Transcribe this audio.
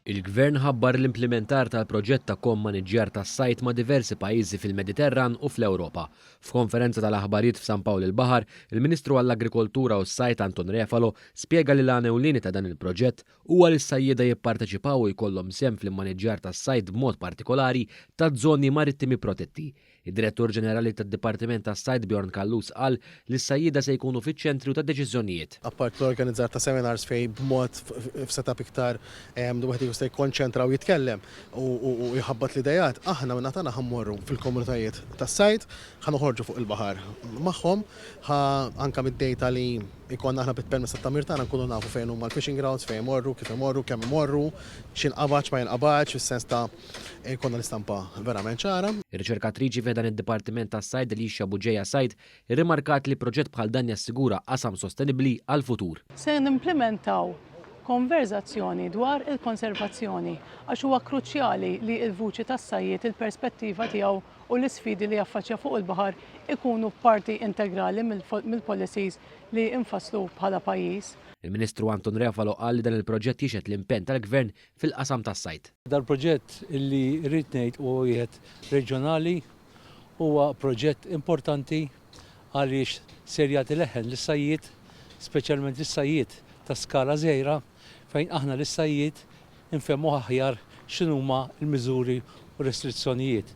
Il-Gvern ħabbar l-implimentar tal-proġett ta' ko-mmaniġġjar tas-sajd ma' diversi pajjiżi fil-Mediterran u fl-Ewropa. F'konferenza tal-aħbarijiet f'San Pawl il-Baħar, il-Ministru għall-Agrikoltura u s-Sajd Anton Refalo spjega li l-għan ewlieni ta' dan il-proġett huwa li s-sajjieda jipparteċipaw u jkollhom sehem fl-immaniġġjar tas-sajd b'mod partikolari taż-żoni marittimi protetti Id-Direttur Ġenerali tad-Dipartiment tas-Sajd Bjorn Callus qal li s-sajjieda se jkunu fiċ-ċentru tad-deċiżjonijiet. Apart l-organizzar ta' seminars fejn b'mod f'setup iktar wieħed ikun jista' jikkonċentra u jitkellem u jħabbat l-ideat, aħna min-naħa tagħna ħa mmorru fil-komunitajiet tas-sajd, ħa noħorġu fuq il-baħar magħhom, ħa anke mid-dejta li jkollna aħna bit-permess tat-tagħmir tagħna nkunu nafu fejn huma l-fishing grounds, fejn imorru, kif imorru, kemm imorru, x'jinqabad, x'ma jinqabadx, fis-sens ta' Jkollna l-istampa verament ċara. Ir-riċerkatriċi fi ħdan id-Dipartiment tas-Sajd Alicia Bugeja Said irrimarkat li proġett bħal dan jassigura qasam sostenibbli għall-futur. Se nimplimentaw konverżazzjoni dwar il-konservazzjoni għax huwa kruċjali li l-vuċi tas-sajjied, il-perspettiva tiegħu u l-isfidi li jaffaċċja fuq il-baħar ikunu parti integrali mill-policies li nfasslu bħala pajjiż. Il-Ministru Anton Refalo qal li dan il-proġett jixhed l-impenn tal-Gvern fil-qasam tas-sajd. Dal-proġett li rrid ngħid huwa wieħed reġjonali, huwa proġett importanti għaliex ser jagħti leħen lis-sajjied, speċjalment lis-sajjied ta' skala żgħira fejn aħna lis-sajjied infehmuh aħjar x'inhuma l-miżuri u r-restrizzjonijiet.